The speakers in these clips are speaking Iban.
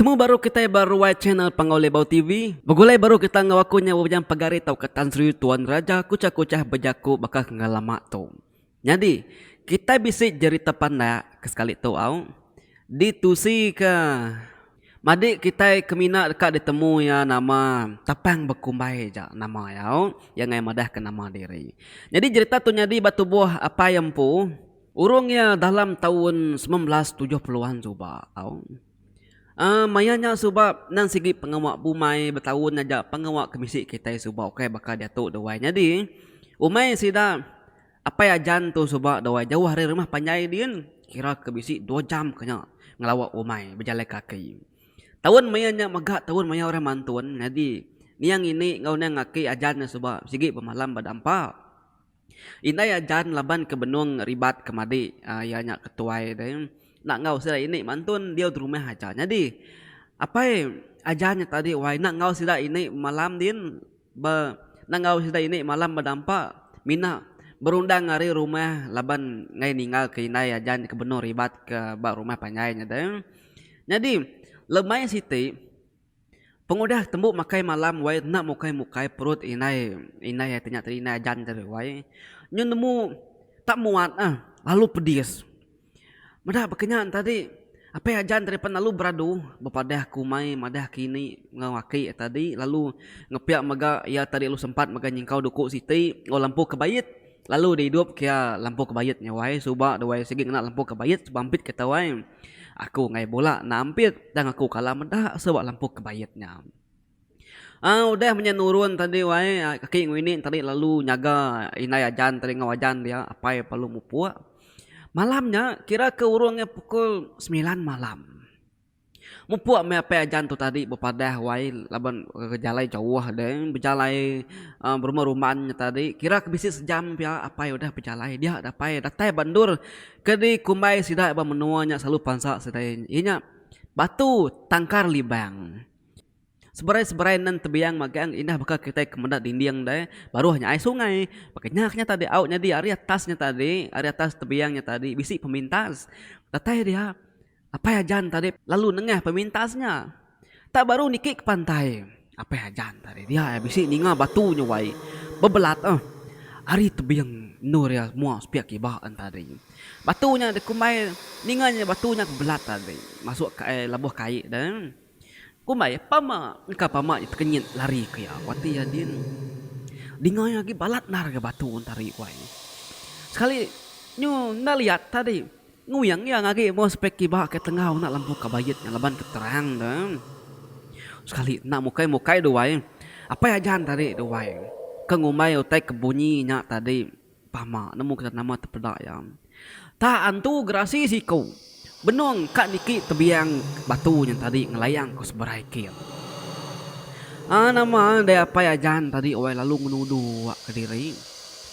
Betemu baru kitai ba ruai channel Panggau Libau TV. Begulai baru kita enggau aku nya Wujang Pagari tauka Tan Sri Tuan Raja Kuchah Kuchah bejaku baka ke enggau lama tu. Nyadi, kitai bisi jerita pandak ke sekali tu au ditusika madi kitai ke mina deka ditemu iya nama Tapang Bekumbai ja nama iya au. Iya ngagai madahka nama diri. Nyadi jerita tu nyadi ba tubuh Apai Empu urung iya dalam taun semilan belas tujuh puluh an suba au. Uhh maya nya suba endang sigi pengawa bumai betaun aja pengawa ke bisi kitai suba ukai baka diatu duai nyadi umai sida apai ajan tu suba duai jauh ari rumah panjai din kira ke bisi dua jam ke nya ngelawa umai bejalai kaki. Taun maya nya mega taun maya orang mantun nyadi niang ini enggau niang aki ajan nya suba sigi bemalam ba dampa. Indai ajan laban ke benung ribat ke madi iya nya ke tuai deh enda enggau sida ini mantun diau di rumah aja nyadi apai ajan nya tadi wai enda enggau sida ini malam din ba enda enggau sida ini malam bedampa mina berundang ari rumah laban ngai ninggal ke indai ajan ke benung ribat ke ba rumah panjai nya deh nyadi lemain siti Pengudah tembu makai malam wai enda mukai mukai perut indai indai ati nya tadi indai ajan tadi wai nyu nemu tak muat ah lalu pedis meda baka nya tadi apai ajan tadi pen lalu beradu bepadah ke umai madah ke ini enggau aki tadi lalu ngepiak mega iya tadi lalu sempat mega nyingkau duku siti lalu lampu kebait. Lalu di idup kia lempu kebayit nya wai suba da wai sigi ngena lempu kebayit suba ampit ke tau ai. Aku enggai bula enda ampit tang aku kala meda suba lempu kebayit nya. Au udah menya nurun tadi wai aki nguini tadi lalu nyaga indai ajan tadi enggau ajan dia apai lalu mupuk. Malam nya kira ke urung nya pukul semilan malam. Mupuk meh apai ajan tu tadi bepadah wai laban bejalai jauh deh bejalai berumah rumah nya tadi kira ke bisi sejam pia apai udah bejalai dia deh apai datai ba endur kadi kumbai sida ba menua nya selalu pansa sida iya nya batu tangkar libang seberai seberai nang tebiang magang indah baka kitai ke meda dinding deh baruh nya ai sungai baka nya nya tadi au nyadi ari atas nya tadi ari atas tebiang nya tadi bisi pemintas datai dia. Apai Ajan tadi lalu nengah pemintas nya. Tak baru niki ke pantai, Apai Ajan tadi dia ia bisi ninga batu nyuai bebelat eh ari tebing endur ia mua sepiak kiba en tadi. Batu nya dikumbai ninga nya batu nya bebelat tadi masuk ka ai lebuh kai deh. Kumbai, Pama! Engka pama nya tekenyit lari ke iya. Wati iya din dinga iya agi balat endar ngagai batu entari ku ai. Sekali nyu enda liat tadi nguing iya ngagi meh sepai kiba ke tengau enda lempu kabayit nya laban ke terang tu. Sekali enda mukai mukai duai apai ajan tadi duai ke ngumbai utai ke bunyi nya tadi. Pama nemu kita nama tepeda iya. Tak antu gerasi siku. Benung ka niki tebiang batu nya tadi ngelayang ku seberai kit. Aa nama dai apai ajan tadi wai lalu ngenudu wak kediri.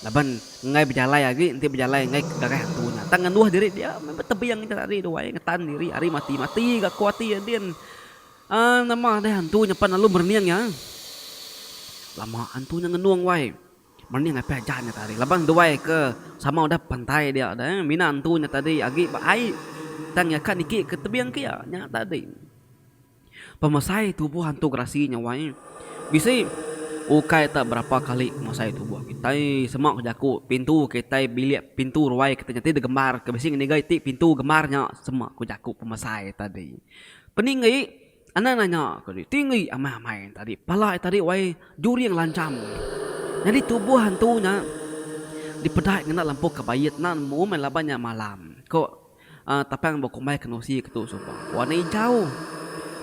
Laban enggai bejalai agi enti bejalai enggai ke gagah antu nya. Tang ngenduh diri dia meh ba tebiang nya tadi duai ngetan diri ari mati mati ga ku ati iya din. Aa nama dai antu nya pan lalu merening iya. Lama antu nya ngenung wai. Mani ngapai aja nya tadi laban nduai ke sama udah pantai dia deh mina antu nya tadi agi ba ai tang iya ka niki ke tebing ke iya nya tadi. Pemesai tubuh antu gerasi nya wai bisi ukai ta berapa kali pemesai tubuh kitai sema ke jaku pintu kitai bilik pintu ruai kitai nya ti digembar ke bisi ngeninga iti pintu gembar nya sema ku jaku pemesai tadi. Peningi. Anang nanya ke diri, Tinggi amai amai nya tadi pala iya tadi wai juring lancham. Nyadi tubuh hantu nya dipedai ngena lempu ke baie tenan memu meh laban nya malam, ko Tapang ba kumbai kenusi ke tu suba. Wak enda inchau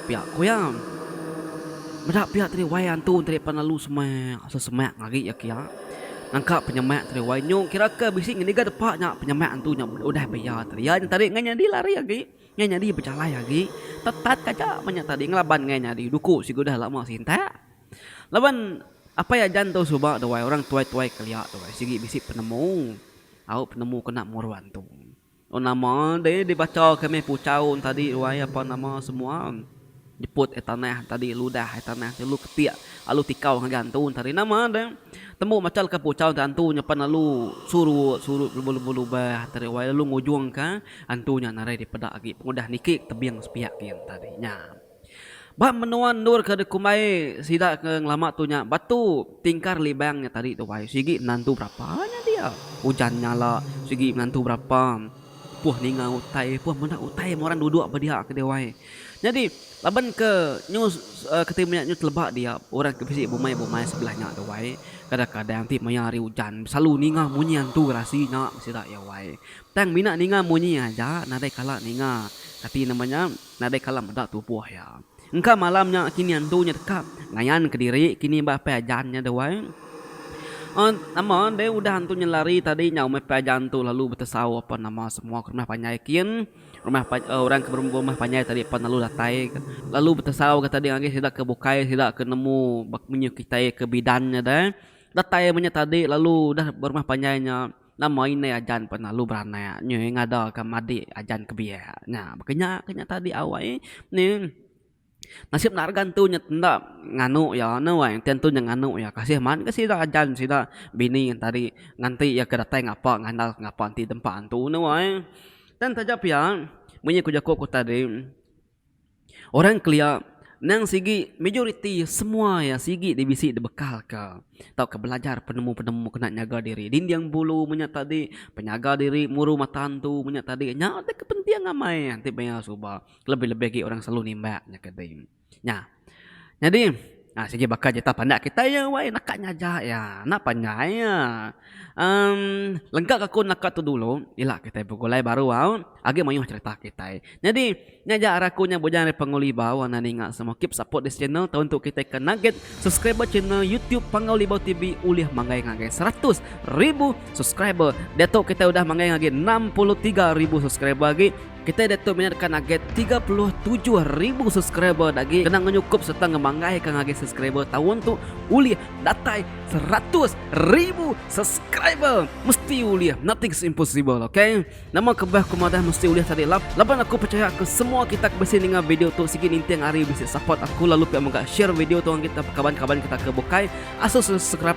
pia ku iya. Meda pia tadi wai hantu tadi pan lalu semak sesemak agi iya kia nangka penyemak tadi wai nyu kira ke bisi ngiga depa nya penyemak hantu nya udah pia tadi. Iya nya tadi ngan nyadi lari agi. Ngai nyadi bejalai agi tetat kaja menya tadi ngelaban ngai nyadi duku sigu dah lama sintak. Laban apai ajan tu suba duai orang tuai-tuai kelia tu sigi bisi penemu au penemu kena muruan tu. Nama deh dibacha kami puchau tadi wai apa nama semua. Jeput ai tanah tadi ludah ai tanah ti alu ketik alu tikau ngagai antu tadi nama deh tembu macha leka puchau ti antu nya pan alu surut surut belubah lubah tadi wai lalu ngujung ka antu nya narai dipeda agi pengudah niki tebing sepiak gin tadi nya. Ba menua endur ke dikumbai sida ke ngelama tu nya batu tingkar libang nya tadi tu wai sigi menantu berapa nya dia ujan nyala sigi menantu berapa. Puh ninga utai, puh meda utai meh orang duduk ba dia ke dia wai. Nyadi laban ke nyu ke ti meh nyu teleba dia orang ke bisi bumai-bumai sebelah nya tu wai, kadang-kadang ti maya hari ujan belalu ninga munyi antu gerasi nya sida iya wai. Tang mina ninga munyi aja nadai kala ninga kati nama nya nadai kala meda tubuh iya. Engka malam nya kini antu nya deka ngayan kediri kini ba pai ajan nya deh wai. Aa nama deh udah antu nya lari tadi nya umai pai ajan tu lalu betesau apan nama semua ke rumah panjai kin rumah aa orang ke berumah panjai tadi pan lalu datai lalu betesau ga tadi ngagai sida ke bukai sida ke nemu ba munyi kitai ke bidan nya deh datai menya tadi lalu udah berumah panjai nya. Nama indai ajan penalu beranak nyu ngadaka madik ajan ke biak nya baka nya ke nya tadi awai ni nasib enda regan tu nyet enda nganu iya enda wai enti antu nya nganu iya kasih mat ga sida ajan sida bini ngan tadi nganti iya ke datai ngapa ngandal ngapa enti tempa antu nya wai. Tang taja pia munyi ku jaku ku tadi Orang kelia endang sigi majoriti semua iya sigi ti bisi dibekalka tauka belajar penemu-penemu kena nyaga diri dinding bulu menya tadi penyaga diri muru mata antu menya tadi nya ti kepenting amai ti pia suba kelebih-lebih agi orang selalu nimbak nya ke tadi nya. Nyadi, a sigi baka jita pandak kitai iya wai naka nyaja iya. Enda panjai iya. Em lengkaka aku naka tu dulu ila kitai begulai baru au agi mayuh cherita kitai. Nyadi nya aja ari aku nya Bujang ari Panggau Libau enda ninga semua keep support this channel tau entu kitai ke naget subscriber channel YouTube Panggau Libau TV ulih manggai ngagai seratus ribu subscriber. Diatu kitai udah manggai ngagai enam puluh tiga ribu subscriber agi. Kitai diatu minatkan agi tiga puluh tujuh ribu subscriber enda agi kena ngenyukup sereta ngemanggaika ngagai subscriber taun tu ulih datai seratus ribu subscriber. Mesti ulih, nothing is impossible ok. Nama kebah ku madah mesti ulih tadi lap. Laban aku pechaya ke semua kita ke bisi ninga video tu sigi ninting ari bisi support aku lalu pia mega share video tu ngagai kaban-kaban kita ke bukai asus subscribe.